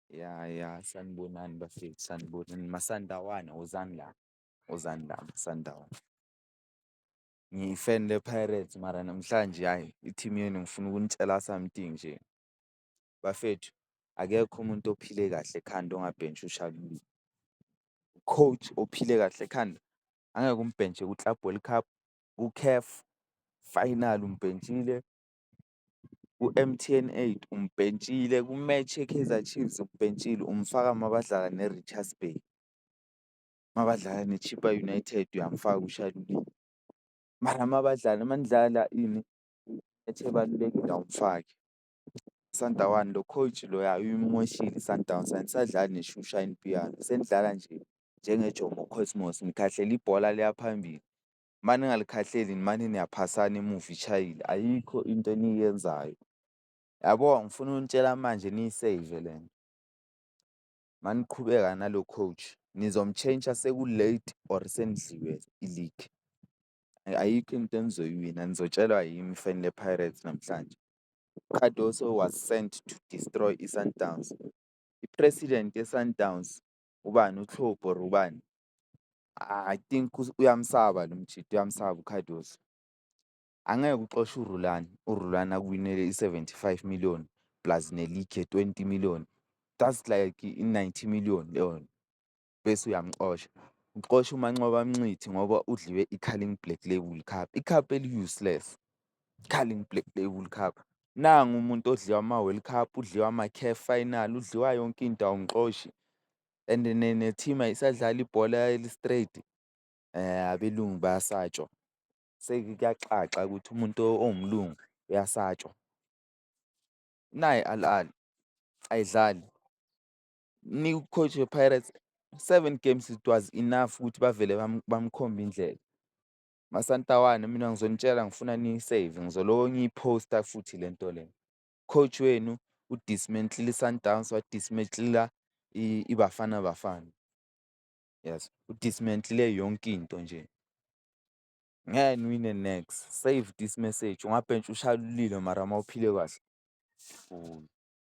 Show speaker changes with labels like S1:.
S1: Ya ya sanibonani bafethu sanibonani Masandawana wozani la, wozani la Masandawana. Ngiyi-fan lePirates mara namhlanje hhayi i-team yenu ngifuna ukunitshela something nje. Bafethu akekho umuntu ophile kahle ekhanda ongabhentshwa uShalulile. U-coach ophile kahle ekhanda angeke umbhentshwe ku-Club World Cup, ku-Caf final umbhentshile. u-M_T_N eight umbhentshile, ku-match yeKaizer Chiefs umbhentshile umfaka uma badlala neRichards Bay, uma badlala neChippa United uyamfaka uShalulile. Mara uma badlala uma nidlala ini i-match ebalulekile awumfaki. USandawana lo coach loya uyimoshile iSundowns ayisadlali nesho uShine Pienaar, senidlala nje njengeJomo Cosmos nikhahlela ibhola liya phambili. uma ningalikhahleli nimane niyaphasana emuva ishayile, ayikho into eniyenzayo. Yabo ngifuna ukunitshela manje niyiseyive le nto. Uma niqhubeka nalo coach nizomtshentsha seku-late or senidliwe iligi. Ayikho into enizoyiwina nizotshelwa yimi fanele Pirates namhlanje. UCardoso was sent to destroy iSundowns. I-president yeSundowns ubani uTlhobu or ubani I think uyamsaba lo mjita uyamsaba uCardoso. Angeke uxoshe uRulani, uRulani akuwinele i-seventy five million plus ne-league ye-twenty million, that's like i-ninety million leyonto bese uyamxosha. Uxosha uManqoba Mnqithi ngoba udliwe i-Carling Black Label Cup, ikhaphu eli-useless. Carling Black Label Cup. Nangu umuntu odliwa ama-World Cup, udliwa ama-CAF final, udliwa yonke into awumxoshi and ne-team ayisadlali ibhola eli-straight abelungu bayasatshwa. Sekuyacaca ukuthi umuntu owumlungu uyasatshwa. Nayi i-Al Ahly ayidlali, ninike u-coach we-Pirates seven games it was enough ukuthi bavele bamkhombe indlela. Masantawane mina ngizonitshela ngifuna niyi-save ngizoloko ngiyiphosta futhi le nto le. Coach wenu udismentile i-Sundowns wadismentila iBafana Bafana. Yes, udismentile yonke into nje. Ngeke niwine next, save this message, ungabhentshwa ushaye ulilo mara mawuphile kahle.